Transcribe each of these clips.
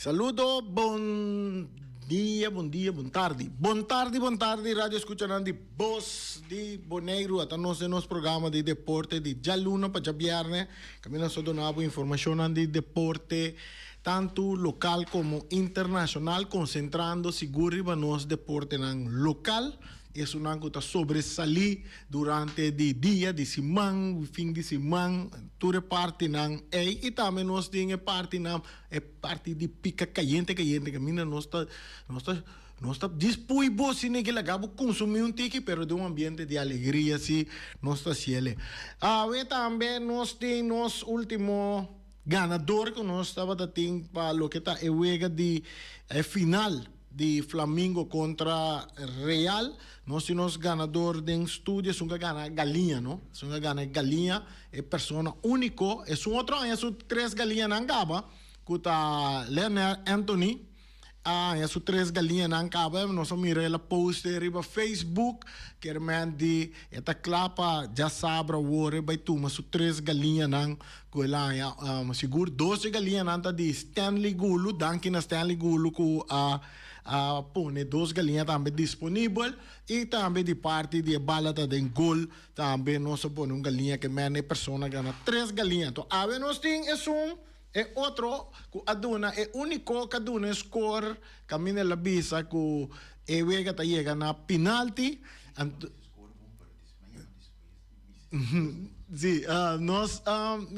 Saludo bon dia, bon dia, bon tardi. Bon tardi, bon tardi radio escuchanan di Bos di Boneiru. Ata nos den nos programa di deporte di djaluna pa djabierne. Caminda so donabo informacionnan di deporte. tantu lokal komo internashonal, konsentrando sigur riba nos deportenan lokal, esunnan ku ta sobresalí durante di dia, di siman, fin di siman, tur e partinan ei, i tambe nos tin e partinan, e parti di pika kayente kayente, kaminda nos ta nos ta nos ta dispui bo si niki laga bo konsumí un tiki, pero den un ambiente di alegria si nos ta hasiel e. Awe tambe nos tin nos último. Ganador cu nos tabata tin pa loke ta e wega di e final di Flamingo contra Real, nos tin nos ganador den studio, esun cu a gana galiña, no? Esun a gana e galiña, e persona unico, esun otro aña esun tres galiñanan gaba, cu ta Leonel Anthony, a haña su tres galiñanan kaba nos a mira el a poste riba Facebook kermenti e ta kla pa djasabra wor e bai tuma su tres galiñanan ku el a haña sigur doshe galiñanan ta di Stanley Gulu danki na Stanley Gulu ku a a pone dos galiña tambe disponibel i tambe di parti di e bala ta den gol tambe nos a pone un galiña kermenti e personanan tres galiña awe nos tin esun. E otro cu a duna e unico ca duna e scoor caminda el a bisa cu e wega ta yega na pinalti anto si nos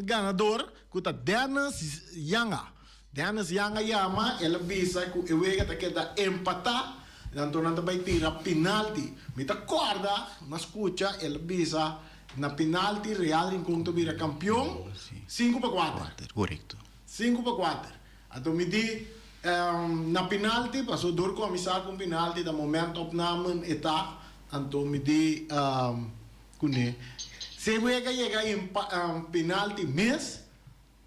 ganador cu ta Dennis Yanga Dennis Yanga yama el a bisa cu e wega ta keda empata anto nan ta bay tira pinalti mi ta corda mi a scucha el a bisa Na penalti Real Rincon ta bira kampion sinku pa kuater. Sinku pa kuater. Anto mi di na penalti paso dor kòmensá ku un penalti ta momènt opnamen e ta. Anto mi di kuné si e wega yega penalti mes.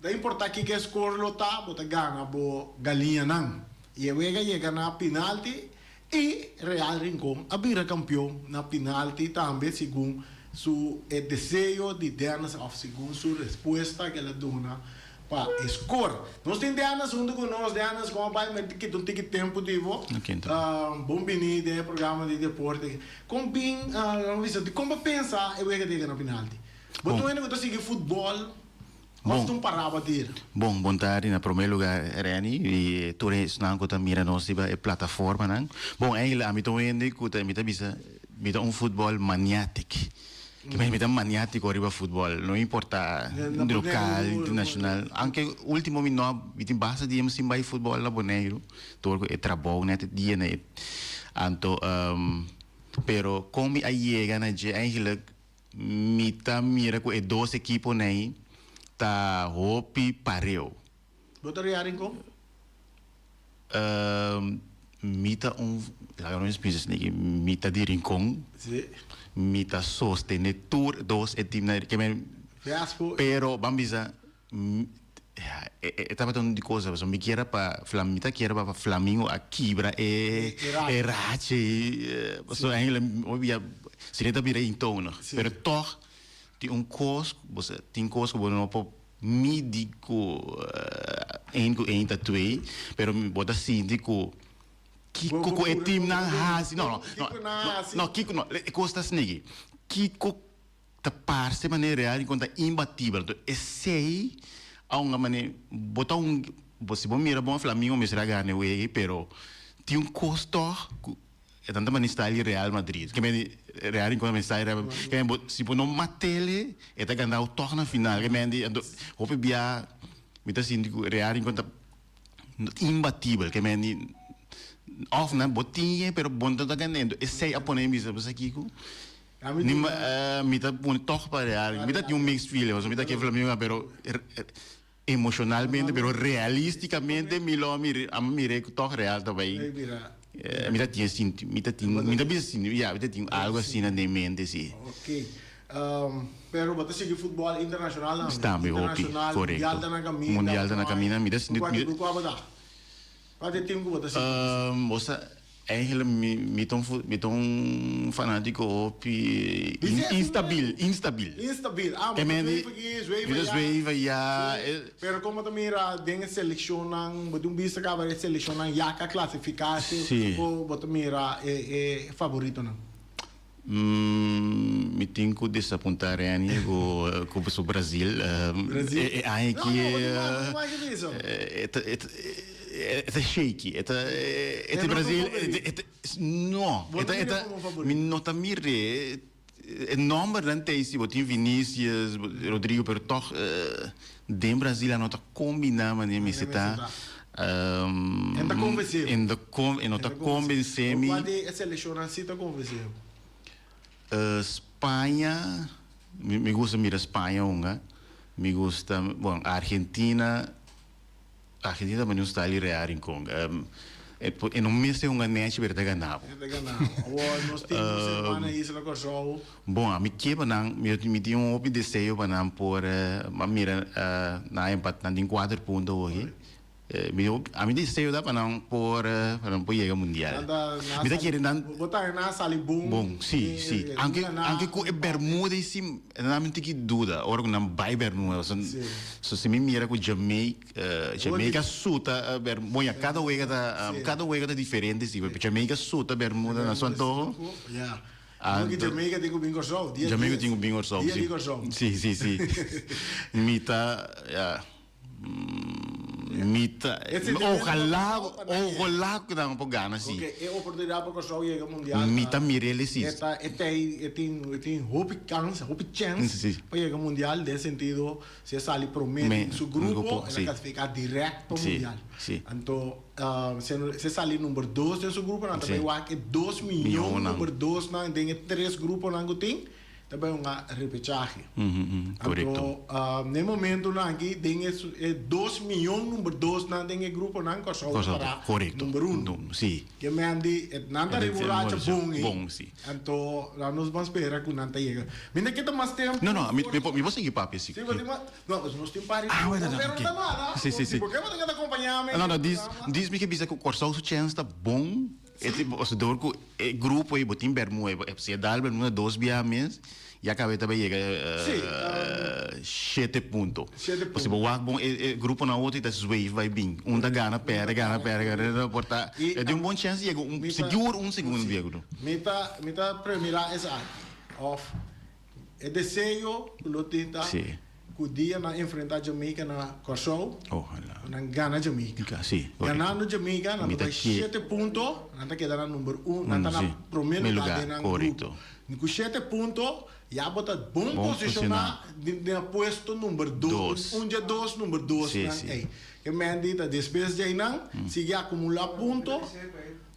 No importa kiko score lo ta, bo ta gana bo galiñanan. Y e wega yega na penalti y Real Rincon a bira campeon na penalti tambe segun su e deseo di Dennis of segun su respuesta que el a duna pa e score. Nos tin Dennis hunto cu nos. Dennis, como bay? Mi a kita un tiki tempo di bo. Bon bini den e programa di deporte. Con bin, Ramon Vicente, con bo a pensa e wega ta yega na penalti? Bo ta wende cu ta sigui futbol? Bon. Ofta un paraba der. Bon, bon tardi. Na promé lugá Renny i tur e esnan ku ta mira nos riba e plataformanan. Bon, Engle, ami ta un hende ku ta mi ta bisa mi ta un futbòl maniátik. Ke bai mi ta maniátiko riba futbòl, no importá di lokal, di nashonal. Aunke último mi no a, mi tin basta dianan sin bai futbòl na Boneiru tur ku e trabou nèt e dia nèt. Anto, pero kon mi a yega na dje, èiglek Mi ta mira cu e dos ekipo'ney ta hopi pareu. Bo ta reha rincon? Ehm, mi ta un, laga nos mester bisa esaki, mi ta di Rincon. Sí. Mi ta sostene tur dos e teamnan, ke men, Fiasco. pero ban bisa E tabata un di cosa pasobra mi kier pa flam mi ta kier pa Flamingo a kibra e e racha ei pasobra eindelijk hoy dia si no ta bira eentonig pero tog tin un cos ku bo sa tin cos ku bo no por midi ku eén ku eén ta twee pero bo ta sinti ku kiko ku e team nan hasi no no no no kiko no e cos ta snegi kiko. ta parse manera real y con ta imbatibel. Enton esey a un mane bo ta un bo si bo mira bo a fla mi no mester a gana e wega pero tin un cos tog cu e tanta mane sta di Real Madrid kende mende Real rincon ta mester sta di Real Madrid kende mende si bo no matele e ta ganao tog na final kende mende ento hopi bia mi ta sinti cu Real rincon ta imbatibel kende mende of nan bo tin e pero bo no ta gana e ento esey a pone mi bisa bo sa kico Ni ma eh, mi ta pone tog pa real, mi ta tin un mixed feeling, pasobra mi ta ke Flamengo, pero emocionalmente, pero realisticamente mi lo mi amo mir'e cu tog real ta bay. Eh, mi ta tin e sinti, mi ta tin, mi ta bisa sinti, ya, mi ta tin algo asina den mente, si. Okay. Um, pero bo ta sigui futbol internacional tambe? Tambe hopi, correcto. Mundial ta na caminda. Mundial ta na caminda, mi ta sinti, mi ta. Cu cuantu tur cuaba ta? Pat e tem ku bo ta sinti así? Bo sa Angela, mi mi ta un mi ta un fanátiko hopi instabil, instabil. Instabil, ah bo ta zweva aki, zweva ya. Mi ta zweva ya. Si, pero kon bo ta mira den e selekshonnan, bo tin un bista kaba e selekshonnan yaka klasifiká, si, bo ta mira e e favoritonan? Mi tin cu desapunta Reni cu su Brazil. E aña aki e ta shaky. E ta Brazil. No, mi no ta mire. E nombernan ta ey si bo tin Vinicius, Rodrigo pero toch. Den Brasil a no ta combiná mane e mester ta. E no ta convencé bo. E no ta convencé mi. Cua di e seleccionnan si ta convencé bo? Spaña, mi gusta mira Spaña hunga. Mi gusta, bon, Argentina. Argentina ta baniu Staley Reha rincon e no mester hunga nechi pero e ta gana bo. E ta gana bo awo nos tin un semana na isla Corsou. Bon ami kier pa nan mi tin un hopi deseo pa nan por a mira nan a empata nan tin cuater punto hochi mi ami deseo ta pa nan por pa nan por yega mundial mi ta kere nan bo ta nan a sali bon si si anke anke cu e Bermuda y si. E ta dami un tiki duda ora ku nan bai Bernuevo. So so si mi mira ku Jamaica Jamaica su ta Bermuda bon ya kada wega ta kada wega ta diferente si pues Jamaica su ta Bermuda na su antoho anto Jamaica tin ku bin Kòrsou dia di Kòrsou si si si mita ya. Mi ta ojalá ojalá cu nan por gana si. Ok, e oportunidad pa Curaçao yega mundial ta. Mi ta mira el esi. E ta e ta e tin e tin hopi kans hopi chance pa yega mundial den sentido si e sali prome den su grupo el a clasifica direct pa mundial anto si si e sali number dos den su grupo nan ta bay wak e dos miyon number dos nan den e tres grupo nan cu tin. Ta bay un repechahe. Anto, n'e momentonan aki, den e dos miyon number dos nan den e gruponan, Kòrsou ta para number uno. Ke mende, nan ta reboracha bon ei. Anto, la nos ban spera ku nan ta yega. Mi na ke ta mas tempu. No, no, mi por sigui papia si. Si, bo tin mas. No, pues nos tin pari tempu. Pero no ta nada, porque bo tin ke ta kompañá mi. No, no, dis mi ke bisa ku Kòrsou su chèns ta bon. E tin pasador ku e grupo ei bo tin bermua ei bo ep siña dal bermua dos bia mes ya kabeta bai yega shete punto paske si bo wak bon e gruponan otro i ta zweif bai bin un ta gana perde gana perde gana perde no por ta e tin un bon chèns di yega un sigur un segundo bia ku no. Mi ta mi ta premi la es aña of. E deseo cu lo tin ta Sí. cu dia nan enfrenta Jamaica na Corsou, Ojalá. cu nan gana Jamaica. Ga- sí, correcto. Ganando Jamaica nan Mi ta ta bay kie- shete punto, nan ta keda na number un, nan Uno, ta na sí. prome Prome lugar lugar, den nan correcto. grupo. Mi cu shete punto ya bo ta bon Bon posiciona posiciona. di di na puesto number dos, Dos. un dje dos number dos Sí, nan sí. ey. Ke Mandy ta despues djey nan sigui acumula punto,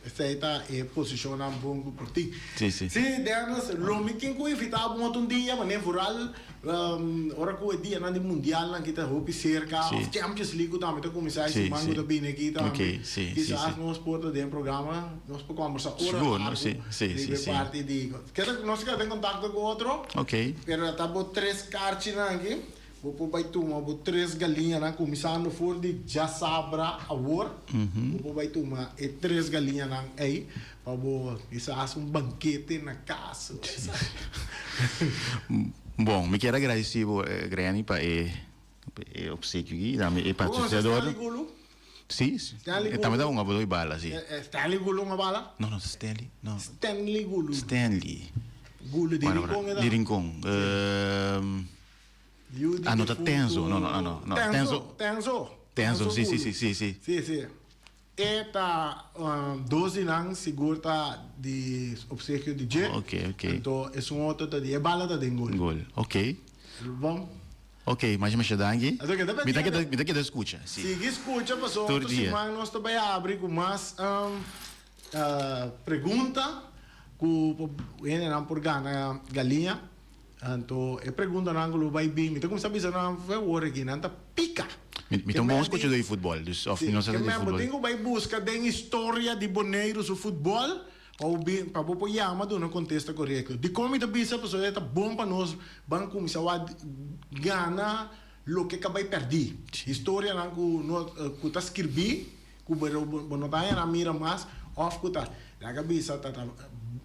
Esei ta e posishonnan bon ku por tin. Sí, deja nos, lo mi tin ku invitá bon otro un dia, manera vooral ora ku e dianan di mundialnan aki ta hopi serka, òf Champions League ku tambe ta kuminsá e siman ku ta bini aki tambe, kisas nos por ta den e programa, nos por kòmbersá ora largu riba e parti di. Nos a keda den kontakto ku otro, pero ta bo tres karchinan aki. Bo por bai tuma bo tres galiñanan kuminsando for di djasabra awor. Bo por bai tuma e tres galiñanan ei pa bo bisa hasi un bankete na kas. Bon, mi kier agradesí bo, Granny, pa e e opsekio aki i tambe e patrosinador. Bo konosa Stanley Gulu? Sí, e tambe ta un abuelo di bala, sí. Stanley Gulu un abala? No, no ta Stanley, no. Stanley Gulu. Stanley. Gulu di Rincon e ta? Di Rincon. Ano ta tenso, no, no, ano, no, tenso. Tenso, tenso, si, si, si, si. Si, si. E ta dos di nan sigur ta di obsequio di dje. Ok, ok. Anto esun otro ta di e bala ta den gol. Gol, ok. Bon. Ok, masha, masha danki. Anto keda pendiente. Mi ta keda, mi ta keda skucha, si. Sigui skucha pasobra otro siman nos ta bai abri ku mas pregunta ku por hende nan por gana galiña Anto e preguntanan ku lo bai bin, mi ta kuminsá bisa nan, f'e wor aki nan ta pika. Mi ta un bon skuchadó di futbòl, dus òf mi no sa ta di futbòl. Bo tin ku bai buska den historia di Boneiru su futbòl pa bo bin, pa bo por yama duna un kontesta korekto. Dikon mi ta bisa pasobra e ta bon pa nos ban kuminsá wak gana loke ka bai pèrdí. Historianan ku ta skirbí Ku berou bo no ta hera mira mas òf ku ta laga bisa ta ta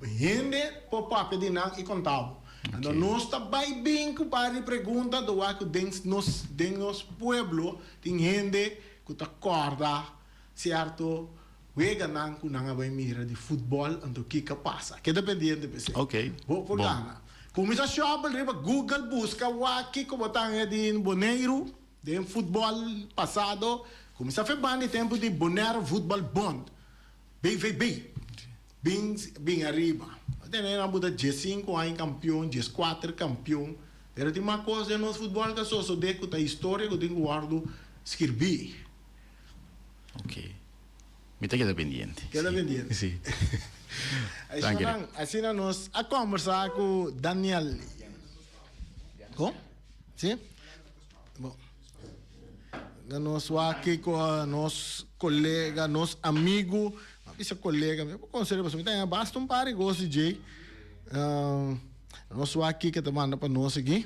hende por papia di nan i konta bo. Anto nos ta bai bin ku par di pregunta do a ku den nos den nos pueblo tin hende ku ta kòrda sierto weganan ku nan a bai mira di futbòl anto kiko a pasa. Keda pendiente p'esei. Bo por gana. Kuminsa shòpel riba Google buska wak kiko bo ta haya di Boneiru. Den futbol pasado kuminsá feban di tempu di Bonaire Voetbal Bond, BVB, bin bin ariba. Bo ta tene nan bo ta dies sinku aña kampion, dies kuater kampion, pero tin mas kos den nos futbol ta sosodé ku ta historia ku tin ku wòrdu skirbí. Ok. Mi ta keda pendiente. Keda pendiente. Sí. Asinanan, asina nos a kòmbersá ku Daniel. Ko? Sí. Bo ta nos wak kiko nos kolega nos amigu a bisa kolega mi por konsed'e pasobra mi ta haña basta un par di gosi dje nos wak kiko ta manda pa nos aki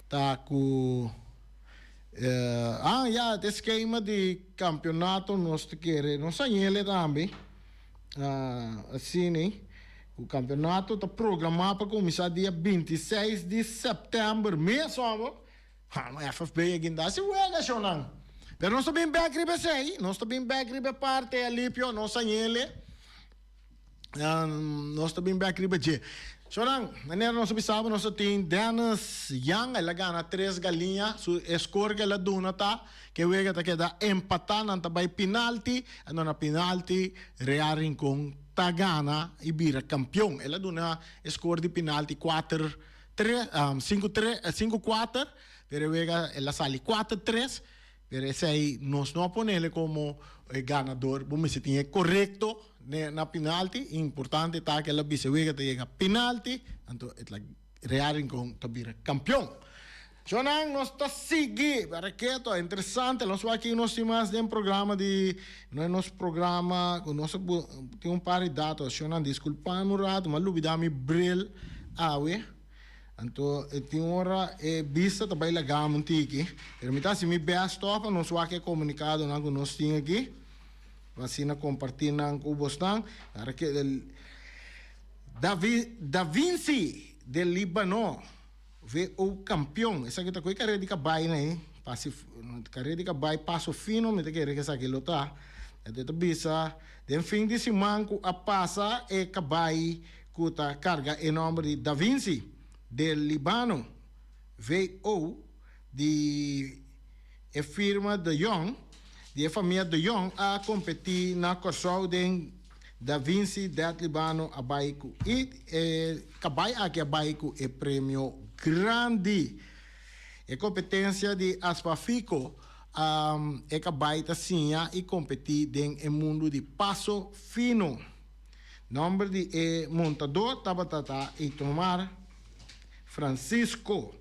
ta ku a ya e skema di kampionato nos ta kere nos hañele tambe Na asina ku kampionato ta programá pa kuminsá dia binti i seis di sèptèmber mes ora, FFB a gindá si wegashonnan. Pero nos ta bin bèk riba esei, nos ta bin bèk riba e parti alipio, nos a yele, nos ta bin bèk riba dje. So nan, manera nos a bisaba nos a tin Dennis Young, el a gana tres galiña, su e skor ku el a duna ta. Ke wega ta keda empatá, nan ta bai pinalti, a duna pinalti, Real Rincon ta gana i bira kampion. El a duna e skor di pinalti kuater tre, sinku tre, sinku kuater, pero e wega el a sali kuater tres, pero esei nos no a ponele komo e ganador, bo mester tin e korekto na pinalti, importante ta ke el a bisa e wega ta yega pinalti, anto e ta. Real Rincon ta bira campeon. Djonan nos ta sigui para ke to interesante nos wak kin nos tin mas den programa di no nos programa cu nos a tin un par di dato ashonan disculpami un rato ma a lubida mi bril awe anto e tin ora e bista ta bay lagami un tiki pero mi ta haci mi best toch pa nos wak e comunicadonan cu nos tin aki pa asina comparti nan cu bosnan para ke. Da Vinci den Libano who campeon esaki ta cu e carrera di cabai na e pasi carrera di cabai paso fino mi ta kere cu esaki lo ta enton e ta bisa den fin di siman cu a pasa e cabai cu ta carga e nomber di Da Vinci den Libano who di e firma de Jong di e famia de Jong a competi na Corsou den Da Vinci Deadly Bano a bai ku e kabai aki a bai ku e premio grandi. E kompetensia di Aspafico e kabai ta siña i kompetí den e mundu di paso fino. Nòmber di e montadó tabata ta Itomar Francisco.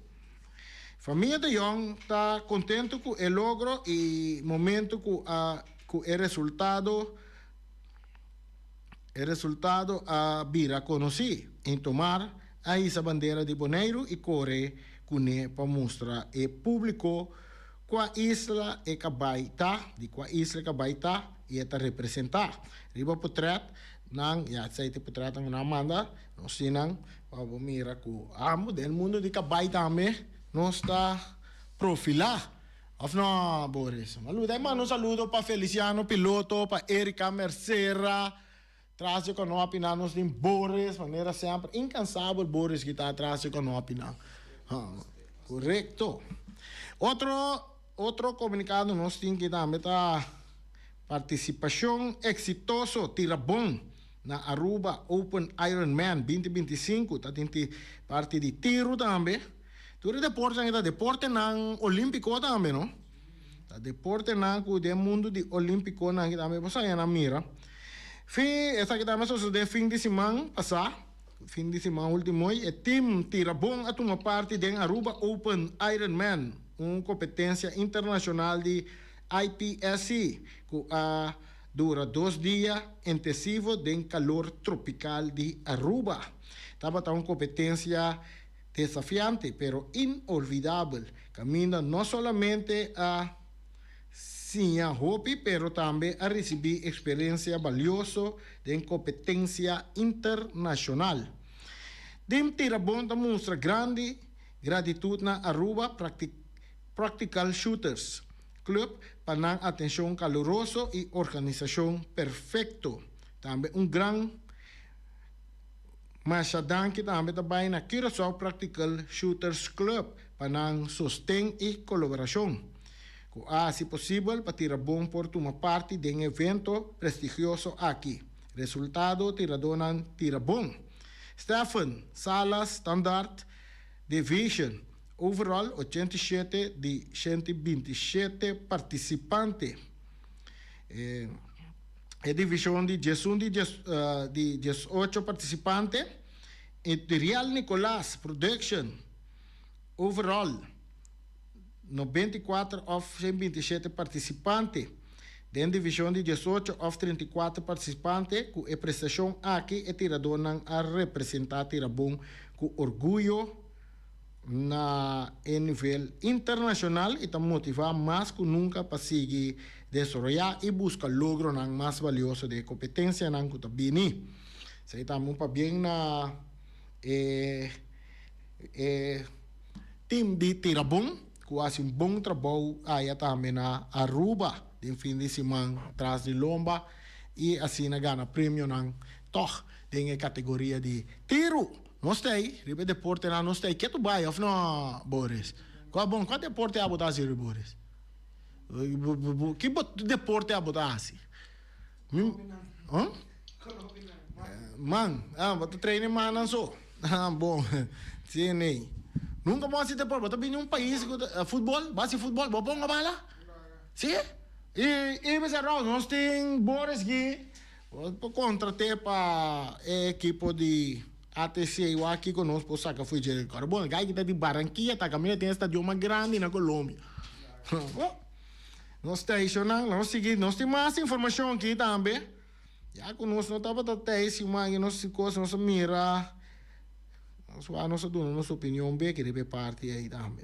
Famia de Jong ta kontentu ku e logro i momentu ku e resultado. E resultado a bira conoci. Intomar a hisa bandera di Boneiru y core cu ne pa mustra e publico cua isla e cabai ta, di cua isla e cabai ta y e ta representa. Riba potret nan, ya sea te potret nan cu nan a manda, nos tin nan pa bo mira cu amo den mundo di cabai tambe nos ta profila. Of no, Boris? Maluta i manda un saludo pa Feliciano Piloto, pa Erica Mercera, tras di Konopi nan nos tin Boris, manera semper inkansabel Boris ki ta tras di Konopi nan. Ha, korekto. Otro, otro komunikado nos tin ki tambe ta Partisipashon eksitoso tira bon na Aruba Open Ironman binti binti i sinku, ta tin ti parti di tiru tambe. Tur e deportenan e ta deportenan olímpiko tambe, no? Ta deportenan ku den mundu di olímpikonan kita mester pasobra e nan mira. Fin, esaki tambe a sosodé fin di siman pasá, fin di siman último hoy, e tim tira bon a tuma parti den Aruba Open Ironman, un kompetensia internashonal di IPSC ku a dura dos dia intesivo den kalor tropikal di Aruba. Tabata un kompetensia desafiante pero inolvidabel caminda no solamente a siña hopi pero tambe a ricibi experiencia balioso den competencia internacional. Den Tirabon ta mustra grandi gratitud na Aruba Practical Shooters Club pa nan atencion caluroso y organisacion perfecto. Tambe un gran. Masha danki tambe ta bai na Curaçao Practical Shooters Club pa nan sosten i coloberashon, cu a haci posibel pa Tira Bon por tuma parti den e evento prestigioso aki. Resultado, tiradonan Tira Bon, Stephen, Salas, Standaard, Division, Overall ochenta i shete di shente binti shete participante. e divishon di diesun di diesocho partisipante i Rial Nicolas Production overall no binti i kuater òf shen binti i shete partisipante den divishon di diesocho òf trinta i kuater partisipante. Ku e prestashon aki e tiradónan a representá Tirabou ku orguyo. Na e nivel internashonal i ta motivá mas ku nunka pa sigui desaroyá i buska logronan mas balioso den e kompetensianan ku ta bini. Esei ta un pabien na e e tim di Tirabon ku a hasi un bon trabou aya tambe na Aruba den fin di siman tras di lomba i asina gana premionan tòg den e kategoria di tiru. Nos ta ei riba e deportenan, nos ta ei. Ke to bai of no, Boris? Kua bon, kua deporte abo ta hasi riba, Boris? Ki bo deporte abo ta hasi? Mi, ha? Man, ah, bo ta traina e mannan so. Ah, bon, sin nei. Nunka bo hasi deporte, bo ta bini un pais ku ta, futbol, bo hasi futbol, bo ponga bala? Si? I, i mester Ralph, nos tin Boris Guy, Por kontra te pa e ekipo di ATC wak kiko nos por saka fo'i dje kòrda. Bon, e gai ki ta di Barankia ta kaminda tin e stadion mas grandi na Colombia. Bon, nos stationnan, lo nos sigui, nos tin mas informashon aki tambe. Ya ku nos no tabata tei si mangi nos si kos, nos a mira, nos wou nos a duna nos opinion beke riba e parti ei tambe.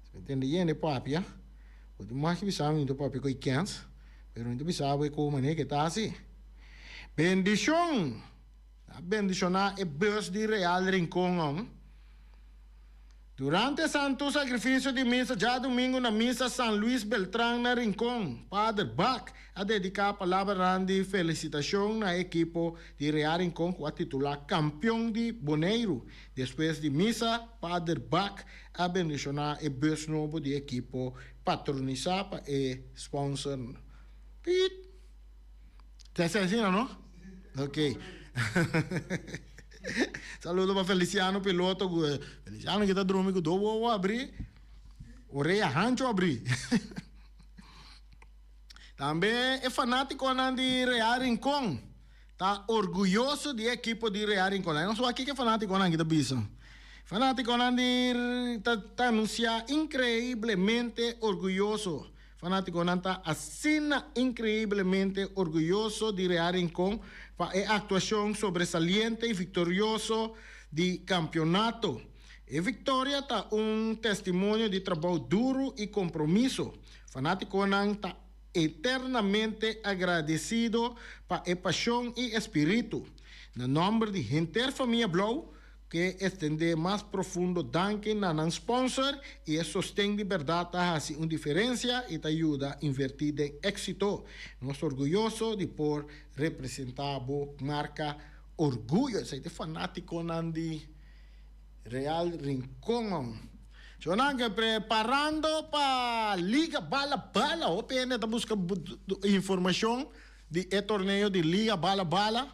Esprentende yende papia, por tin mas ki bisa mi ta papia ku Ikens. Pero mi ta bisa bo e koe manera ke ta asi. Bendishon! Nan a bendishoná e bus di Real Rincon nan. Durante e santu sakrifisio di misa djadumingu na Misa San Luis Beltrán na Rincon, Pader Back a dediká palabranan di felisitashon na e ekipo di Real Rincon ku a titulá Kampion di Boneiru. Despues di misa, Pader Back a bendishoná e bus nobo di e ekipo. Patronisá pa e sponsor no. Piip. Te ser asina no? Ok. Saludo pa Feliciano Piloto cu Feliciano ki ta drumi cu dos wowo abri, orea hancho abri. Tambe e fanaticonan di Real Rincon. Ta orguyoso di e ekipo di Real Rinconada. Nos wak kiko e fanaticonan aki ta bisa. Fanaticonan di ta ta anuncia increiblemente orguyoso. Fanaticonan ta asina increiblemente orguyoso di Real Rincon pa e actuacion sobresaliente y victorioso di campeonato. E victoria ta un testimonio di trabou duro y compromiso. Fanaticonan ta. eternamente agradecido pa e pasion y e spiritu. Na nomber di henter famia Blauw ke estende mas profundo danki na nan sponsor y e sosten di berdad ta haci un diferencia y ta yuda inverti den exito. Nos ta orguyoso di por representa bo marca Orgullo. Esei ta e fanaticonan di. Real Rincongon. Chonan ke preparando pa liga bala bala hopi hende ta buska informacion di e torneo di liga bala bala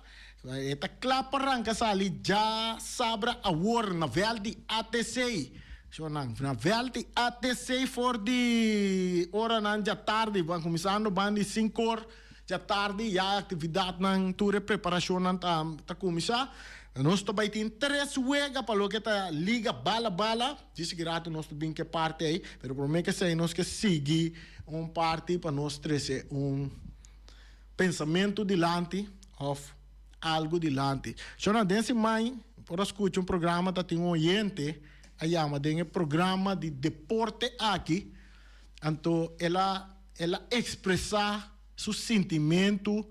e ta kla pa ranka sali dja sabra awor na veld di ATC chonan na veld di ATC for di oranan dja tardi ban kuminsando ban di sinku or. Djatardi ya e actividadnan tur e preparacionnan ta ta cuminsa. Nos ta bay tin tres wega pa loke ta liga bala bala. Djis gratis nos ta bin ke parti ay pero prome ke esey nos ke sigui un parti pa nos trece un pensamento dilanti of algo dilanti. Shona den siman mi por a scucha un programa ta tin un oyente a yama den e programa di deporte aki anto el a. El a expresa su sintimentu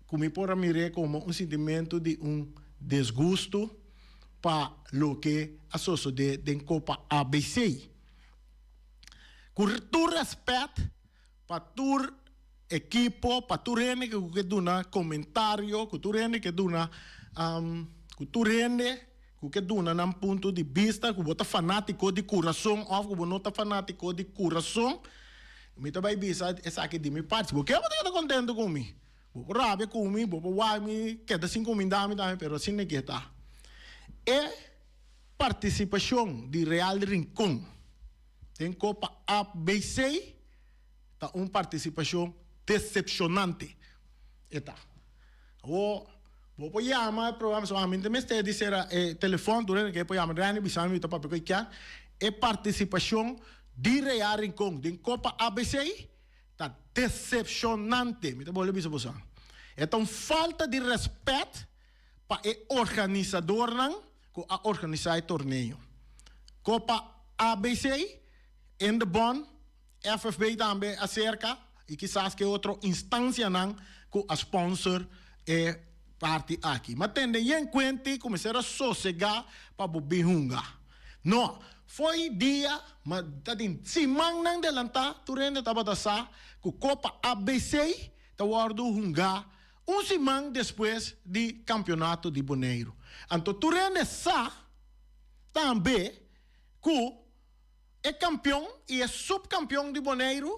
cu mi por a mire como un sintimentu di un desgusto pa loke a sosode den Copa ABC. Cu tur respet pa tur ekipo, pa tur hende cu ke duna comentario, cu tur hende ke duna cu tur hende. Cu ke duna nan punto di bista cu bo ta fanatico di curason of cu bo no ta fanatico di curason. Mi ta bay bisa esaki di mi parti. Si bo kier bo ta keda contento cu mi. Bo por rabia cu mi, bo por wak mi, keda sin cuminda mi tambe, pero asina ke ta. E participacion di Real Rincon den Copa Apbc. Ta un participacion decepcionante e ta. Awo bo por yama e programa so ami ta mester di cera e telefon tur esnan ke por yama Rene bisa mi ta papia cu e kier. E participacion di Reya Rincon den Copa ABC ta decepcionante mi ta bole bisa boso an. E ta un falta di respet pa e organisadornan cu a organisa e torneo. Copa ABC in the bond. FFB tambe a serka y kisas ke otro instancianan cu a sponsor e parti aki. Ma tende yen cuenti cu mester a sosega pa bo bin hunga. No, fo'i dia, ma ta den simannan delanta tur hende tabata sa cu Copa ABC ta wordo hunga un siman despues di Campeonato di Boneiru. Anto tur hende sa tambe cu. E kampion i e supkampion di Boneiru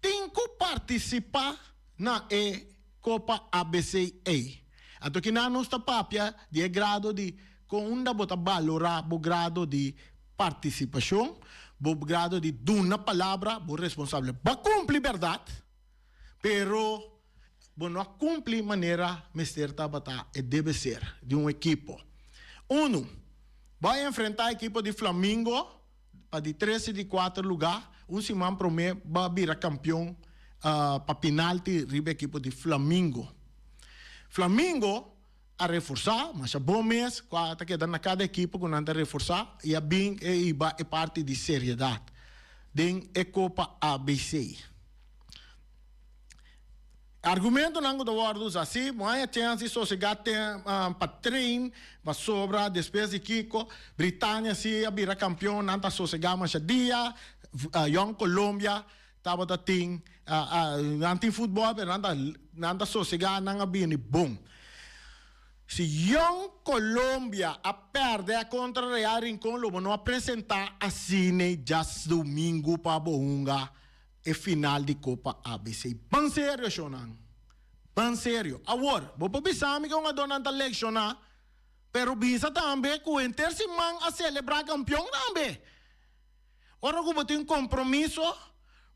tin ku partisipá na e Kopa ABC. Ei ato kina nos ta papia di e grado di kon unda bo ta balorá bo grado di partisipashon, bo grado di duna palabra, bo responsabel. Bo a kumpli bèrdat, pero. Bo no a cumpli manera mester tabata e debe ser di un ekipo. Unu, Bo a enfrenta ekipo di Flamingo pa di tres y di cuater luga. Un siman prome bo a bira campeon pa pinalti riba ekipo di Flamingo. Flamingo a reforsa, masha bon mes cu a ta keda na cada ekipo cu nan ta reforsa y a bin e hiba e parti di seriedad den e copa ABC. E argumentonan cu ta wordo usa si, Bo haya chens di sosega tem pa train pasobra despues di kico Britania si a bira campeon nan ta sosega masha dia, Jong Colombia Tabata tin, nan tin futbol pero nan ta sosega nan a bini bon. Si Young Colombia a perde contra Real Rincon lo bo no a presenta asine dja's domingo pa bo hunga e final di copa ABC. Ban serio shonan, ban serio. Awor, bo por bisami cu hungador nan ta lecciona pero bisa tambe cu henter si man a celebra campeon tambe. Ora ku bo tin kompromiso,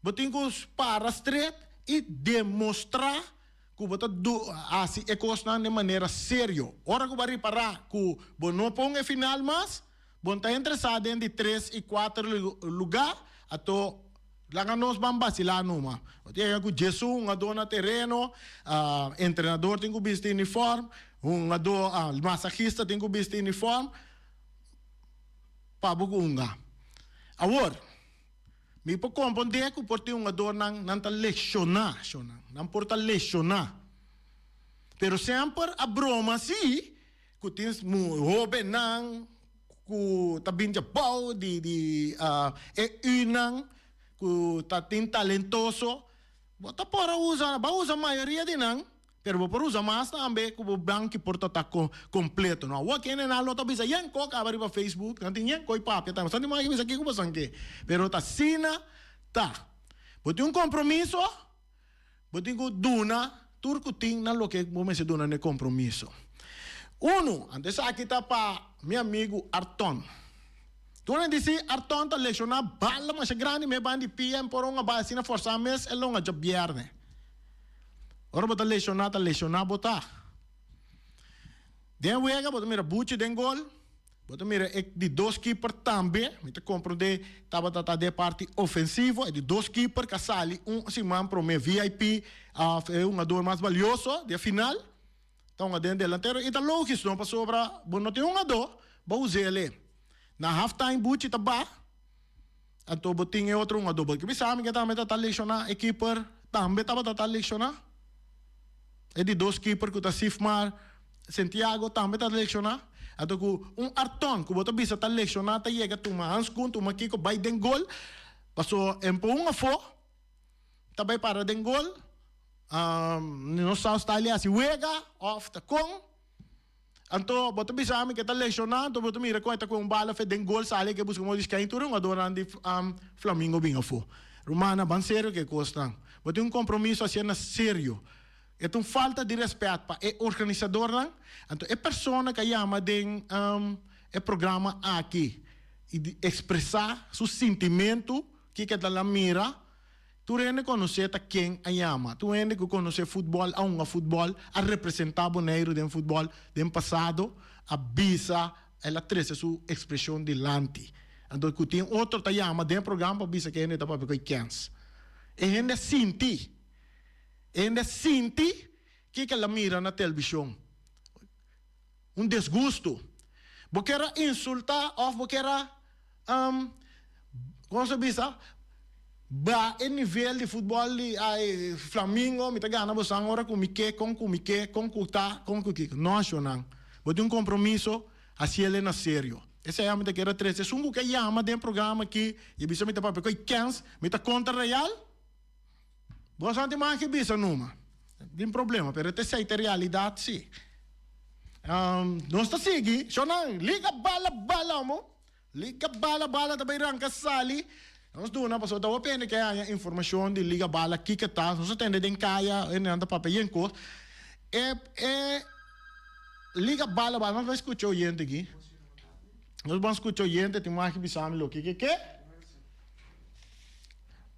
bo tin ku para stret i demostrá ku bo ta hasi e kosnan den manera serio. Ora ku bo a ripará ku bo no pon e final mas, bo ta interesá den di tres i kuater lugá, ato laga nos ban basilá numa. Bo ta yega ku Jesús, un adó na tereno, entrenador tin ku bisti unifòrm, un adó, masajista tin ku bisti unifòrm. pa bo hunga. Awor, mi por compondé cu por tin hungadornan, nan ta lesioná shonnan, nan por ta lesioná. Pero semper a broma así cu tin hobennan cu ta bini abao di e unan cu ta tin talentoso, bo ta por a usa, bo a usa mayoria di nan. Pero bo por usa mas tambe ku bo banki por ta tako kompleto. No awor kende nan lo ta bisa yen ko kaba riba facebook, nan tin yen ko i papia tambe. Santi Maki bisa kiko pasan ke. Pero ta asina ta. Bo tin un kompromiso, bo tin ku duna tur ku tin na loke bo mester duna na e kompromiso. Unu, ante esaki ta pa mi amigu Arton. Tur nan di si, Arton ta lekshoná bala masha grandi, mi a ban di pia, mi por ungabá asina forsá mes el ungha djabièrnè. Ora bo ta lesioná, ta lesioná bo ta. Den wega bo ta mira buchi den gol, bo ta mira e di dos keeper tambe, mi ta komprondé tabata ta den parti ofensivo, e di dos keeper ka sali un siman promé vip òf e hungador mas balioso di e final. Tonga den delantero. E ta logis no pasobra bo no tin un adó bo us'é alé. Na half time Buchi ta ba, anto bo tin e otro un adó. Bo ke bisa mi ke tambe ta ta lesioná e keeper tambe tabata ta lesioná. E di dos keeper ku ta Sifmar Santiago tambe ta lesioná. Anto ku un Arton ku bo ta bisa ta lesioná ta yega tuma hanskun tuma kiko bai den gol paso en pon un afó. ta bay para den gol no sao sta li hasi wega of ta con anto bo ta bisa ami ke ta lesiona anto bo ta mira con e ta cu un bala fe den gol sali eke busca modis cain tur e hungador nan di flamingo bin afo rumana ban serio cu e cosnan bo tin un compromiso hacier nan serio e ta un falta di respet pa e organisador nan anto e persona ca yama den e programa aki y di expresa su sintimento. Kiko ta la mira? Tur hende konos'é ta ken a yama. Tur hende ku konos'é futbòl, a hunga futbòl, a representá Boneiru den futbòl den pasado, a bisa, el a trese su ekspreshon dilanti. Anto ku tin otro ta yama den e program pa bisa ku e hende ta papia ku e kens. E hende a sinti. E hende a sinti kiko el a mira na telbishon. un desgustu, bo kier a insultá òf bo kier a kon se bisa baha e nivel di futbòl di Flamingo, mi ta gana bo san ora ku mi ke, kon ku mi ke, kon ku ta, kon ku kiko. No ashonan. Bo tin un kompromiso, hasi el e na serio. Esei ami ta kier a trese. Esun ku ke yama den programa akí i a bisa mi ta papia ku e kèns, mi ta kontra Real? Boso anti maki bisa numa tin problema pero it esei ta realidad si. Nos ta sigui shonan liga bala bala omo liga bala bala ta bay ranca sali nos duna pasobra ta hopi hende ke haña informacion di liga bala kiko ta nos ta tende den caya hendenan ta papia yen cos e e liga bala bala nos bay scucha oyente aki nos ban scucha oyente tin maki bisami loke ke ke.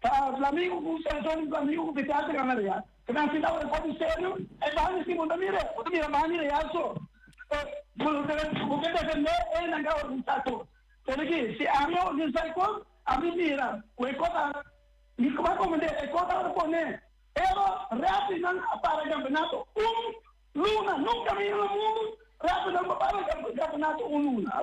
Ta flamigu ku Cesar un flamigu ku bisa te gana real. Te mester keda un deporte serio. E bandi si bo ta mira, bo ta mira bandi real so. E bo lo debe bo ke defende e nan ke a organisa tur. Pero ki si ami a organisa e kos, ami mira ku e kos a mi kuma komandé e kos a repone. Pero refereenan a para campeonato un luna. Nunka mi yira na mundu refereenan por para campeonato un luna.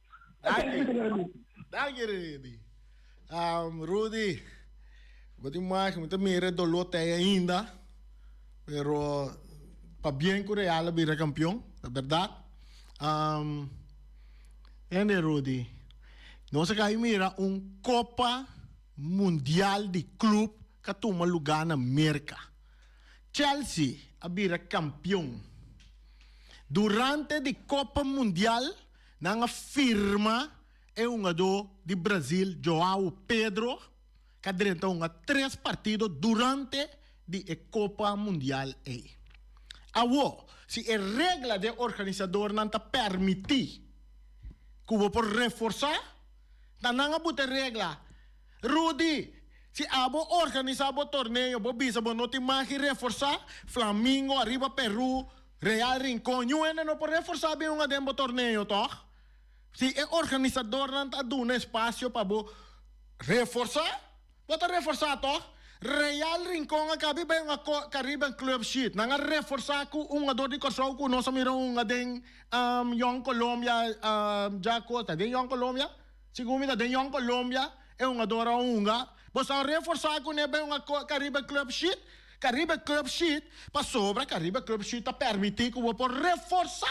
Danki, danki Rudy. Um, Rudy, bo tin mas, mi ta mira e dolor tei ainda, pero pa bien cu Real a bira campeon, ta berdad. Um, hende Rudy, nos a cay mira un Copa Mundial di Club ca tuma lugar na Merca. Chelsea a bira campeon. Durante di Copa Mundial. Nan a firma e hungadó di Brazil Joao Pedro ka drenta hunga tres partido durante di e Copa Mundial ei. Awo, si e regla di e organisadornan ta permití ku bo por reforsá, ta nan a buta e regla, Rudy, si abo organisá bo torneo, bo bisa bo no tin magi reforsá, Flamingo ariba Peru Real Rincon, Yu hende no por reforsa bin un aden bo torneo toch? Si e organisadornan ta duna espacio pa bo reforsa, bo ta reforsa toch? Real Rincon a kabi bay un akort Caribbean Club shit, nan a reforsa cu un hugador di Corsou cu nos a mira un aden Young Colombia djaco, ta den Young Colombia? Segun mi ta den Young Colombia e hugador a hunga, bo sa reforsa cu ne bay un akort Caribbean Club shit? Ka riba e club sheet, pasobra ka riba e club sheet ta permití ku bo por reforsá.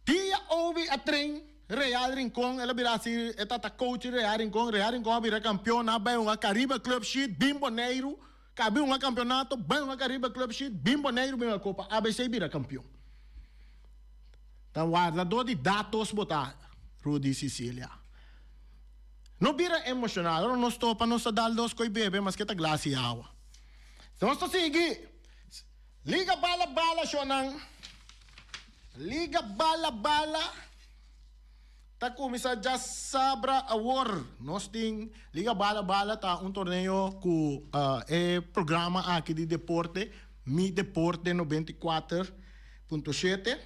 Dia Obi a tren Real Rincon, el a bira si e ta ta coach Real Rincon. Real Rincon a bira kampion, a bai hunga ka riba e club sheet, bin Boneiru ka bin hunga kampionato, bai hunga ka riba e club sheet, bin Boneiru bin hunga kopa ABC bira kampion. Ta wardadó di datos bo ta, Rudy Sicilia. No bira emoshonal ora nos topa nos ta dal dos koi bebe maske ta glas i awa. Nos ta sigui liga bala bala shonan. Liga bala bala ta kuminsá dja sabra awor. Nos tin liga bala bala ta un torneo ku e programa aki di deporte Mi Deporte noventa i kuater punto shete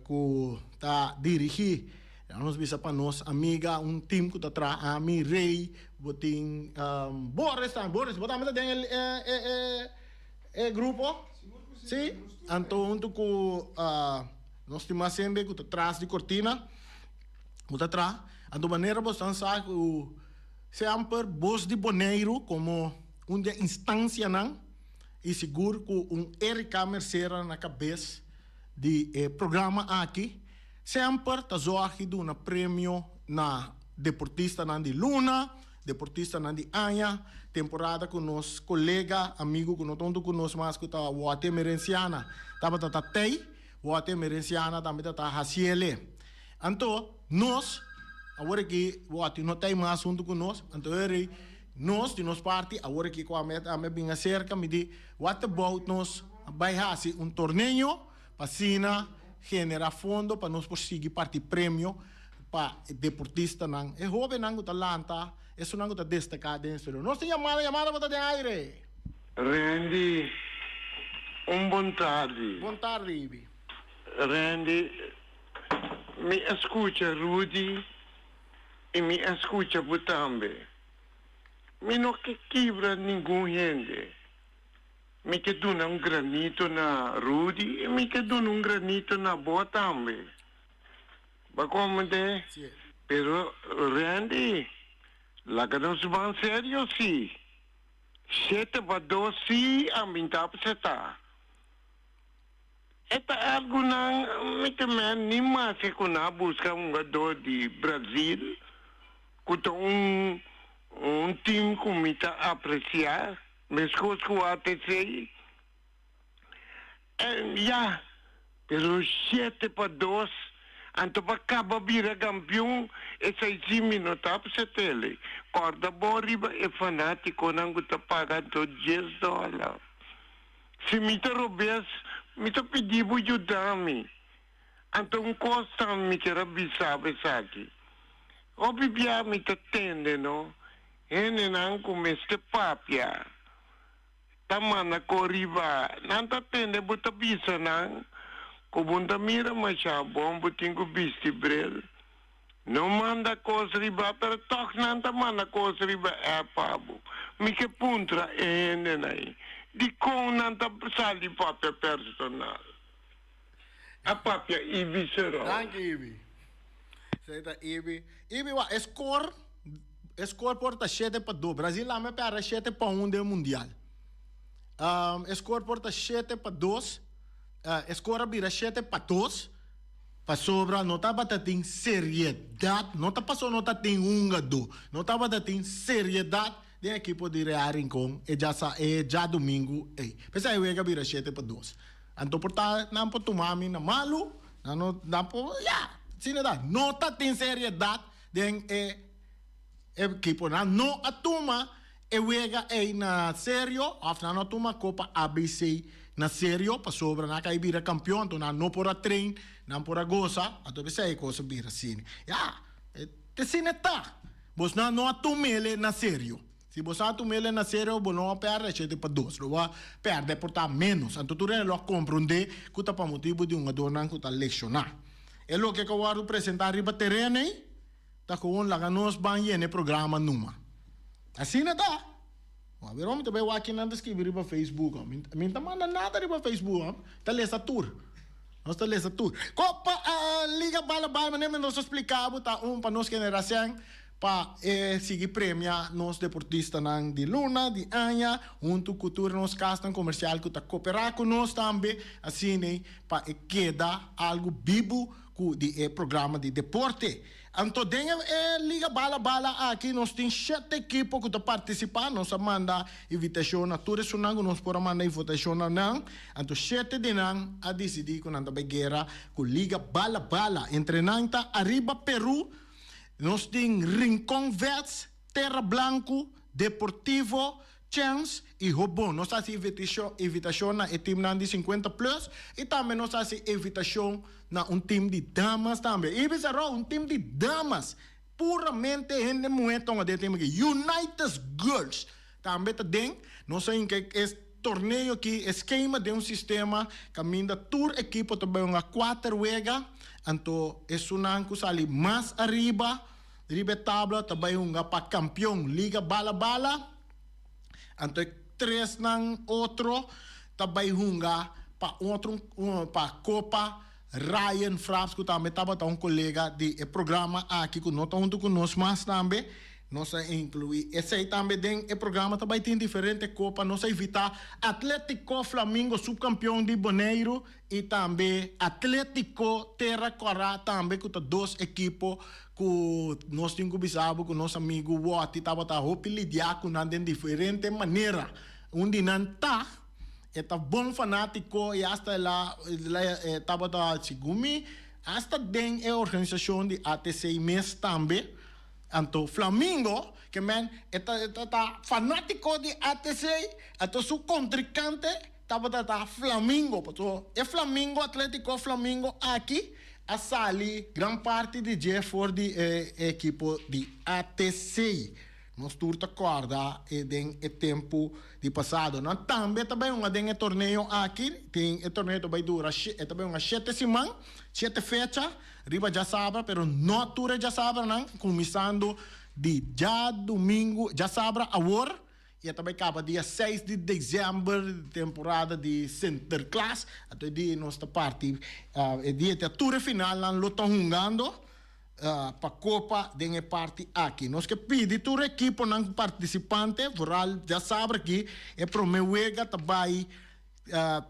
ku ta dirigí. Dja nos bisa pa nos amiga un tim ku ta traha ami, Rey, bo tin Boris tambe, Boris bo tambe ta den e grupo? Si, anto huntu ku nos stima hende ku ta tras di kortina bo ta traha, anto manera bo esnan sa ku se amper Bos di Boneiru komo un di e instansianan i sigur ku un Erika Mercera na kabes di e programa aki. Semper ta zorgi duna premio na deportistanan di luna, deportistanan di aña. Temporada ku nos kolega, amigu ku no ta huntu ku nos mas ku ta Water Merenciana tabata ta tei, Water Merenciana tambe ta ta Haciele. Anto nos, awor ki Water no tei mas huntu ku nos, anto heri nos di nos parti awor ki ku ame ta bin aserka mi di Water Bout nos bai hasi un torneo. pa asina genera fondo pa nos por sigui parti premio pa e deportistanan, e hobennan cu ta lanta, esunnan cu ta destaca den e historia. Nos tin yamada, yamada bo ta den aire. Randy, un bon tardi. Bon tardi, Ibi. Randy, mi a scucha Rudy y mi a scucha bo tambe. Mi no ke kibra ningun hende. Mi ke duna un granito na Rudy y mi ke duna un granito na bo tambe. Ba comprende? Pero Randy, laga nos ban serio si. Shete ba do si a bin ta apseta. E ta algo nan mi ta meh ni masha cu nan a busca un gador di Brazil cu ta un un team cu mi ta aprecia. Mescos cu atc, en ya, pero siete pa dos, antopa caba bira campeon, esai si mi no ta op se tele, corda bo riba e fanaticonan cu ta paga anto dies dollar, si mi ta robes, mi ta pidi bo yuda mi. Anto un kos ta mi kier a bisabo esaki. Hopi bia mi ta tende no hendenan ku mester papia ta manda kor riba. Nan ta tende bo ta bisa nan ku bo ta mira masha bon bo tin ku bisti bril. No manda kos riba pero tog nan ta manda kos riba app pa bo. Mi ke puntra e hendenan ei dikon nan ta sali papia personal. a papia Ibi Serol. Danki Ibi. Esei e ta Ibi. Ibi wak e skor, e skor por ta shete pa dos. Brazil laga me perde shete pa un den mundial. E skor por ta shete pa dos, e skor a bira shete pa dos pasobra no tabata tin seriedat, no ta paso no ta tin hunga do, no tabata tin seriedat. Den ekipo di Real Rincon e dja sa e djadumingu ei. P'esei e wega bira shete pa dos. Anto por ta nan por tuma mi na malu, nan no nan por ya, asina ta. No ta tin seriedat den e ekipo. Nan no a tuma e wega ei na serio òf nan no a tuma Copa ABC na serio pasobra nan a kai bira kampion, anto nan no por a train, nan por a gosa, anto p'esei e kos a bira asina. Ya. Te sine ta. Bosnan no a tumele na serio. Si bo sa tumele na serio bo no a perde shete pa dos. Lo bo a perde por ta menos. Anto tur e lo a comprende cu ta pa motibu di un adornan cu ta lesiona. E loke cu a wordo presenta riba teren ey ta gewoon laga nos ban yene programa numa. Asina ta. Wak bier hombre ta bay wak kinan ta scribi riba facebook a mi mi ta manda nada riba facebook a ta lesa tur nos ta lesa tur ko pa liga bala bay manera mi nos a splica bo ta un pa nos generacion pa e sigui premia nos deportista nan di luna di aña hunto cu tur nos casnan comercial cu ta copera cu nos tambe asina pa e keda algo bibu cu di e programa di deporte. Anto den e liga bala bala aki nos tin shete ekipo ku ta partisipa. Nos a manda invitashon na tur esunnan ku nos por a manda invotashon na nan. Anto shete di nan a disidí ku nan ta bai guera ku liga bala bala. Entre nan ta Ariba Peru, nos tin Rincon Vets, Terra Blanco, Deportivo, Chance y hoop bon. Nos haci invitacion na e teamnan di cincuenta plus y tambe nos haci invitacion na un team di damas tambe. Y bisa Rou, un team di damas, puramente hende muhe togna den e team aki. Unitas Girls tambe ta den. Nos a hinca e torneo aki, e schema den un sistema caminda tur ekipo ta bay un a cuater wega. Anto esunnan cu sali mas ariba Riba e tabla ta bai hunga pa kampion liga Bala Bala, anto e tres nan otro ta bai hunga pa otro pa Kopa Ryan Fraps ku tambe tabata un kolega di e programa aki ku no ta huntu ku nos mas tambe, nos a inkluí esei tambe den e programa. Ta bai tin diferente kopa, nos a invitá Atletico Flamingo, supkampion di Boneiru. y tambe Atletico Terra Cora tambe cu ta dos ekipo cu nos tin cu bisa bo cu nos amigo Wotty tabata hopi lidia cu nan den diferente manera, un di nan ta e ta bon fanatico y hasta el a e tabata segun mi hasta den e organisacion di ATC mes tambe, anto Flamingo ke men e ta e ta ta fanatico di ATC anto su contricante Tabata ta Flamingo, pasobra e Flamingo, Atletico Flamingo aki a sali gran parti di dje for di e ekipo di ATC. Nos tur ta kòrda e den e tempu di pasado. Nan tambe ta bai hunga den e torneo aki. Tin e torneo ta bai dura, e ta bai hunga shete siman, shete fecha riba djasabra, pero no tur e djasabranan, kuminsando di djadumingu, djasabra awor. y a ta bay caba dia seis di december di temporada di Sinterklaas anto e dia nos ta parti e dia ete tur e final nan lo ta hungando pa copa den e parti aki nos ke pidi tur ekiponan participante vooral ya sabra aki e prome wega ta bay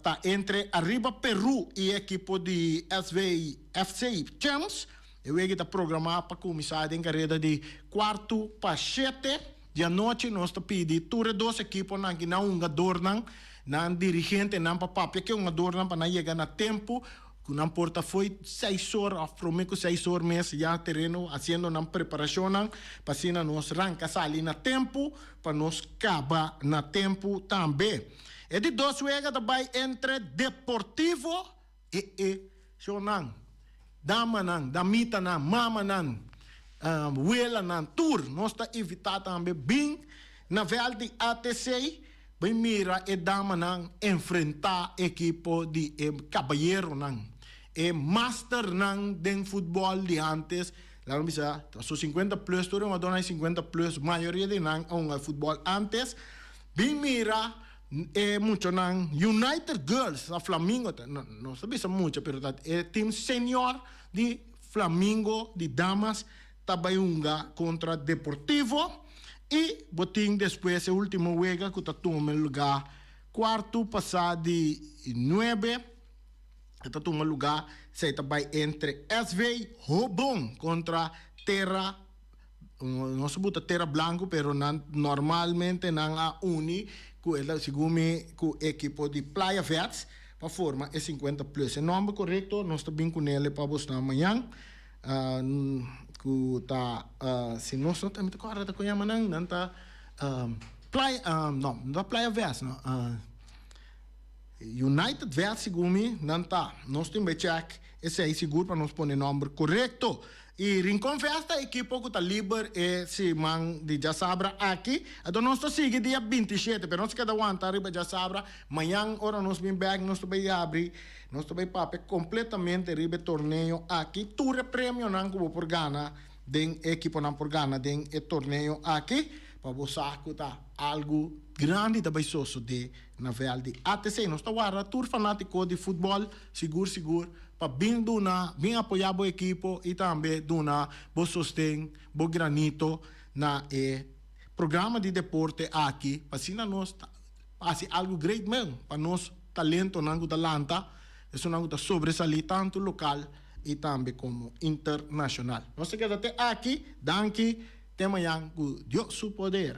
ta entre ariba Peru y e ekipo di SV FC Champs. E wega y ta programa pa cuminsa den careda di cuarto pa shete di anochi. Nos ta pidi tur e dos ekiponan ki nan hungadornan, nan dirigentenan pa papia cu e hungadornan pa nan yega na tempo cu nan por ta fo'i seis or of prome cu seis or mes ya tereno haciendo nan preparacionnan pa asina nos ranca sali na tempo pa nos caba na tempo tambe. E di dos wega ta bai entre Deportivo y e shownan, damanan, damitanan, mamanan, welanan, tur nos ta invita tambe bin na veld di ATC bin mira e damanan enfrenta e ekipo di e kabayeronan, e masternan den futbol di antes, laga mi bisa ta su cincuenta plus, tur e jugadornan e cincuenta plus, mayoria di nan a hunga futbol antes, Bin mira e muchanan United Girls na Flamingo ta nos ta bisa mucha pero ta e team senior di Flamingo di damas ta bai hunga kontra Deportivo i bo tin despues e ultimo wega ku ta tuma e luga kuartu pasa di nuebe e ta tuma luga esei ta bai entre SV Hobon kontra Terra Nos a buta tera blanku pero nan normalmente nan a uni ku e ta segun mi ku e ekipo di Playa Vets pa forma e sinkuenta plus. E nòmber korekto nos ta bin ku nele pa bosnan mañan ku ta si nos no ta mi ta kòrda ta kon yama nan nan ta Playa no no ta Playa Vets no United Vets segun mi nan ta nos tin bai chèk esei sigur pa nos pone nòmber korekto. Y Rincon Fest ta ekipo cu ta liber e siman di djasabra aki. Enton nos ta sigui dia binti y shete, pero nos keda wanta riba djasabra. Mañan ora nos bin bek, nos ta bay yabri, nos ta bay papia completamente riba e torneo aki. Tur e premionan cu bo por gana den, e ekiponan por gana den e torneo aki, pa bo sa cu ta algu grandi ta bay sosode na vel di ATC. Nos ta warda tur fanatico di futbol. Sigur sigur pa bin duna, bin apoyá bo ekipo i tambe duna bo sosten, bo granito na e programa di deporte aki pa asina nos ta hasi algu great men pa nos talentonan ku ta lanta, esunnan ku ta sobresalí tantu lokal i tambe komo internashonal. Nos ta keda te aki. Danki te mañan ku Dios su poder.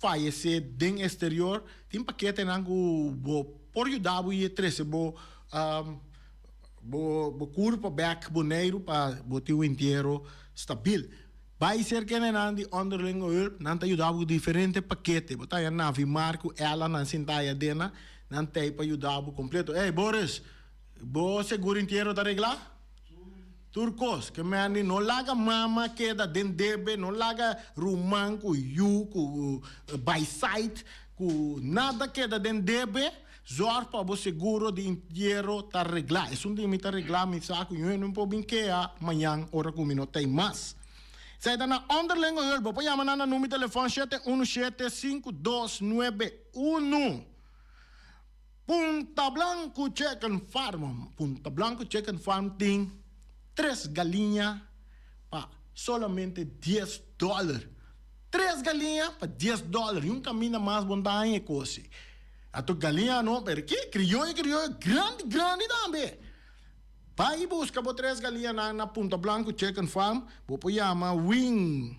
fayesé den esterior, tin paketenan ku bo por yuda bo i e trese bo bo kurpo bèk Boneiru pa bo tin un entiero stabil. Bai serka e nenan di Onderlingenhulp, nan ta yuda bo ku diferente pakete. Bo ta haña Navi Mar ku Ella nan sintá i Adena, nan tei pa yuda bo kompleto. Ey, Boris! Bo segur entiero ta reglá? Tur kos, ke Mandy no laga mama keda den debe, no laga ruman ku yu ku baisait ku nada keda den debe, zorg pa bo seguro di entiero ta reglá. Esun tin mi ta reglá, mi sa ku mi no por bin kea mañan ora ku mi no ta ei mas. Esei ta na onderlinge hulp. Bo por yama nan na numi telefòn shete unu shete sinku dos nuebe unu. Punta Blanco Chicken Farm Punta Blanco Chicken Farm tin tres galiña pa solamente dies dòler. Tres galiña pa dies dòler i un kaminda mas bon daña e kosi. A tur galiña anó pero ki krioyo krioyo grandi grandi tambe. Bai buska bo tres galiñanan na Punta Blanco Chicken Farm. Bo por yama Wing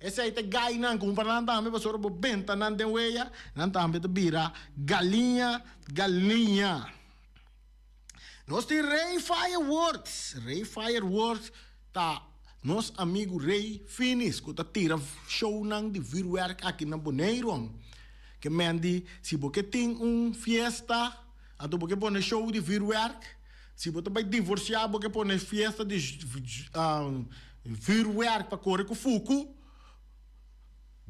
Esei ta gainan ku kumpara nan tambe, pasobra bo benta nan den weya, nan tambe ta bira galiña, galiña. Nos tin Rei Fireworks. Rei Fireworks ta nos amigu Rei Finis ku ta tira shownan di vurwerk aki na Boneirom. Ke men di si bo ke tin un fiesta anto bo ke pone show di vurwerk, si bo ta bai divorsia bo ke pone fiesta di. E vuurwerk pa kore ku fuku.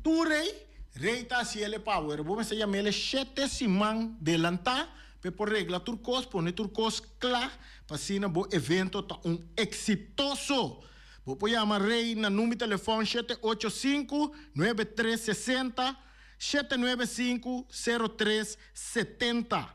Tur rei, rei ta hasi el e power. Bo mester yama el e shete siman delantá pa e por regla tur kos, pone tur kos kla, pa asina bo evento ta un eksitoso. Bo por yama rei na number telefòn shete ocho sinku nuebe tres sesenta shete nuebe sinku sero tres setenta.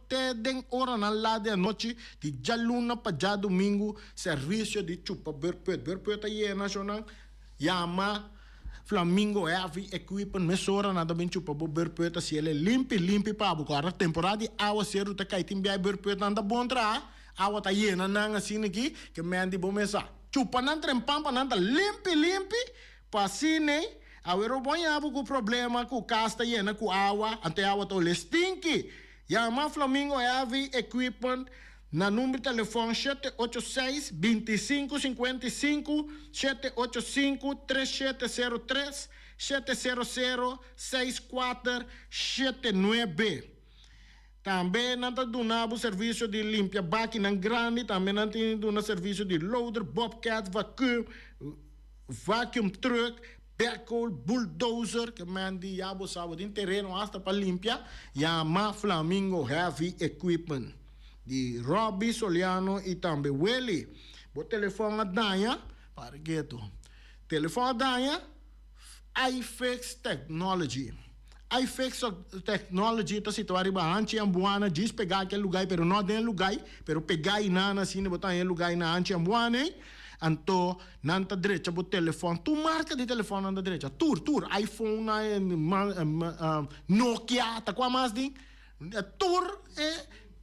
Te den oranan las di anochi di djaluna pa djadumingu servisio di chupa berpuet berpuet a yena shonan yama flamingo heavy equipment mesora nan ta bin chupa bo berpuet a ciel e limpi limpi pa bo guarda temporada di awa ceru ta cay tin biay berpuet nan ta bon traha awa ta yena nan asina ki ke menti bo mes a chupa nan trempan pa nan ta limpi limpi Pasinei, awero bo yabo ku problema ku kas ta yena ku awa, anto e awa ta olé stinki? Yama Flamingo Heavy Equipment na number telefòn shete ocho seis, binti i sinku, sinkuenta i sinku, shete ocho sinku, tres shete sero tres, shete sero sero, seis kuater, shete nuebe. Tambe nan ta duna bo servisio di limpia bakinan grandi, tambe nan tin di duna servisio di loader, bobcat, vacuum, vacuum truck, backhoe, bulldozer, ke men di ya bo sa bo tin tereno hasta pa limpia, yama Flamingo Heavy Equipment di Robby Soliano y tambe Willy. Bo telefon a daña? Para ketu. Telefon a daña? iFix Technology iFix Technology ta situá riba Hanchi and Buana djis pegá kel lugái pero no den lugái pero pegá i nan asina bo ta haña lugái na Hanchi and Buana ei anto nan ta drecha bo telefòn tur marka di telefòn nan ta drecha tur tur iPhone Nokia ta kua mas di. Tur e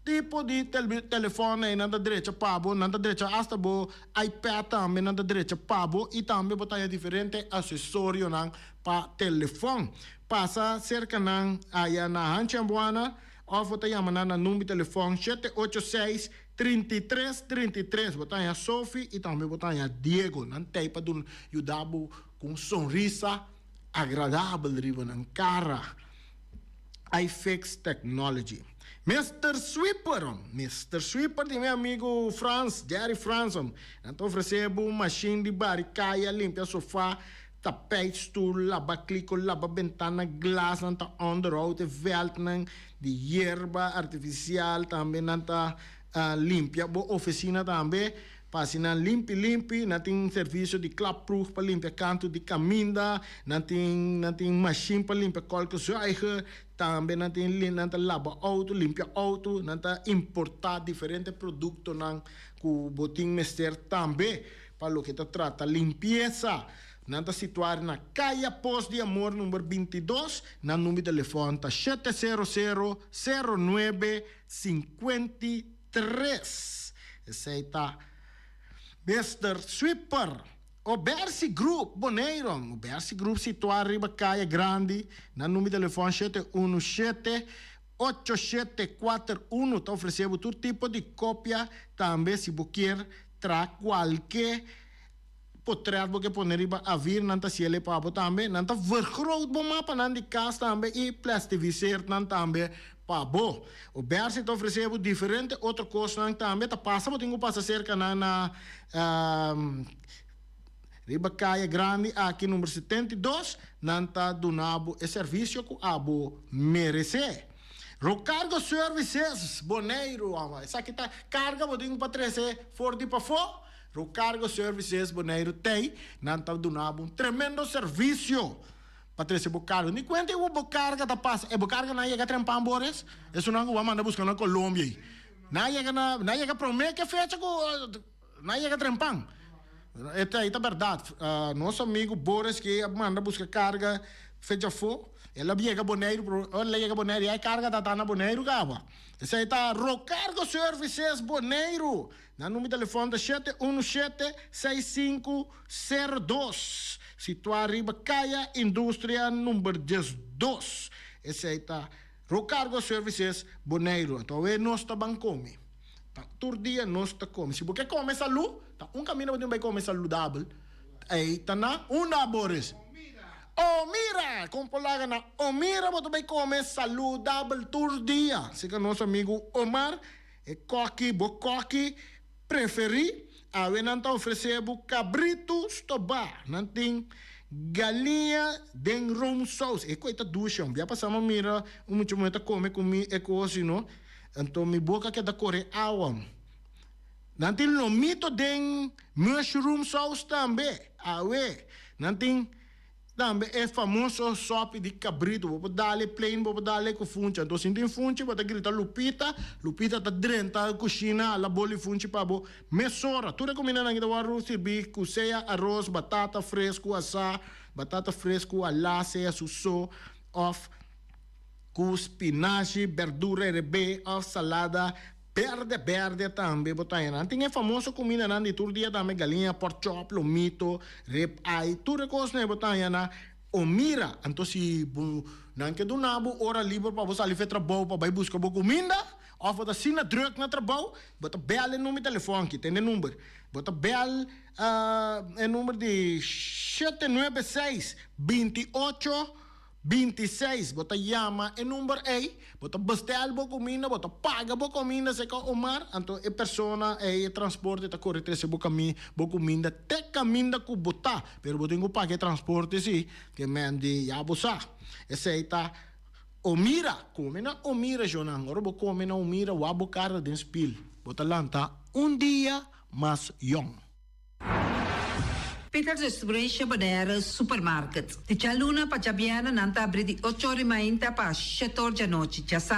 tipo di telefòn ei nan ta drecha pa bo, nan ta drecha hasta bo iPad tambe nan ta drecha pa bo i tambe bo ta haya diferente asesorionan pa telefòn. Pasa serka nan aya na Hanchi Ambuana òf bo ta yama nan na number telefòn shete ocho seis, trinta i tres, trinta i tres. Bo ta haya Sophie i tambe bo ta haya Diego. Nan t'ei pa duna yuda bo ku un sonrisa agradabel riba nan kara. I fix technology. Mister Sweeper, Mister Sweeper di mi amigo Frans, Jerry Frans, nan ta ofrece bo un machine di bari caya, limpia sofa, tapijt, stoel, laba clico, laba bentana, glas, nan ta onderhoud e veldnan di hierba artificial, tambe nan ta limpia bo oficina tambe. Pa hasi nan limpi limpi, nan tin servisio di klapproef pa limpia kantu di kaminda, nan tin nan tin mashin pa limpia kolkzuiger, tambe nan tin nan ta laba outo, limpia outo, nan ta importá diferente produktonan ku bo tin mester tambe pa loke ta trata limpiesa. Nan ta situar na Kaya Pos di Amor number binti dos, nan number di telefòn ta shete sero sero, sero nuebe, sinkuenti Tres, esei ta, Mister Sweeper, o Bersi Groep, Boneiru, o Bersi Groep situá riba Kaya Grandi, na numi telefòn shete unu shete, ocho shete kuater unu, ta ofresé bo tur tipo di kopia, tambe si bo kier traha kualke. Potret bo ke pone riba avir nan ta siele pa bo tambe. Nan ta vergroot bo mapanan di kas tambe i plestiviseerd nan tambe pa bo. Obersi ta ofresee bo diferente otro kosnan tambe. Ta pasa bo tin ku pasa serka nan na riba Kaya Grandi aki numero setenta i dos. Nan ta duna bo e servisio ku a bo meresee. Rocargo Services Boneiru. Esaki ta karga bo tin pa trese for di pafó. Ru Cargo Services Boneiru Tei, nan ta duna bo un tremendo servisio pa trese bo cargo. Di cuenta e ua bo carga ta pasa, e bo carga na yega trempan bo res, esunancu bo a manda busca na Colombia ey. Na yega na, na yega prome ke fecha cu na yega trempan. E ta, e ta berdad. Nos amigo Boris ke a manda busca carga fecha afo, el a yega Boneiru, pero ora el a yega Boneiru ya e carga ta ta na Boneiru caba. Esey ta Ro Cargo Services Boneiru. Nan number telefon ta shete unu shete seis sinku sero dos, situá riba Kaya Industria number dies dos. Esei ta Rocargo Services Boneiru. Anto awe nos ta ban kome. Ta tur dia nos ta kome. Si bo ke kome salú, ta un kaminda bo tin bai kome saludabel, ei ta na Unda Abores. Omira! Kon por laga na Omira bo ta bai kome saludabel tur dia? Seka nos amigu Omar. E koki bo koki preferí, awe nan ta ofresé bo kabritu stobá, nan tin galiña den roomsaus, e kos ei ta dushi hombre, ya pasá mi a mira un mucha muhé ta kome ku mi e kos si no anto mi boka ke ta kore awa, nan tin lomito den mushroom saus tambe, awe nan tin. Tambe e famoso sopi di cabrito bo por dale plain bo por dale cu funchi anto si tin funchi bo ta grita Lupita Lupita ta drenta cushina a la boli funchi pa bo mesora tur e comida nan ta wor sirbi cu sea aros batata frescu asa batata frescu a la sea su so of cu spinashi berdura e rebe of salada. Berde berde tambe bo ta haya. Nan tin e famoso kumindanan di tur dia tambe, galiña, pork chop, lomito, rib eye, tur e kos na e bo ta haya na o mira. Anto si bo nan ke duna bo ora liber pa bo sali for e trabou pa bai buska bo kuminda of bo ta asina druk na trabou, bo ta bel e number telefòn aki, tende e number, bo ta bel e number di shete nuebe seis binti ocho Binti seis, Bo ta yama e number ei, bo ta bestel bo cuminda, bo ta paga bo cominda seca o mar, anto e persona ei, e transporte ta core trece bo cami bo cuminda te caminda cu bo ta, pero bo tin cu paga e transporte si, que men di ya bo sa. Esey ta O mira, come na O mira Jonan, ora bo come na O mira wap bo carta den spil, bo ta lanta un dia mas yong. Peter de Struis a bader supermarket. Di djalunan pa djabièrnè nan ta abri di ocho ora i mainta pa shetor djanochi. Dja sa.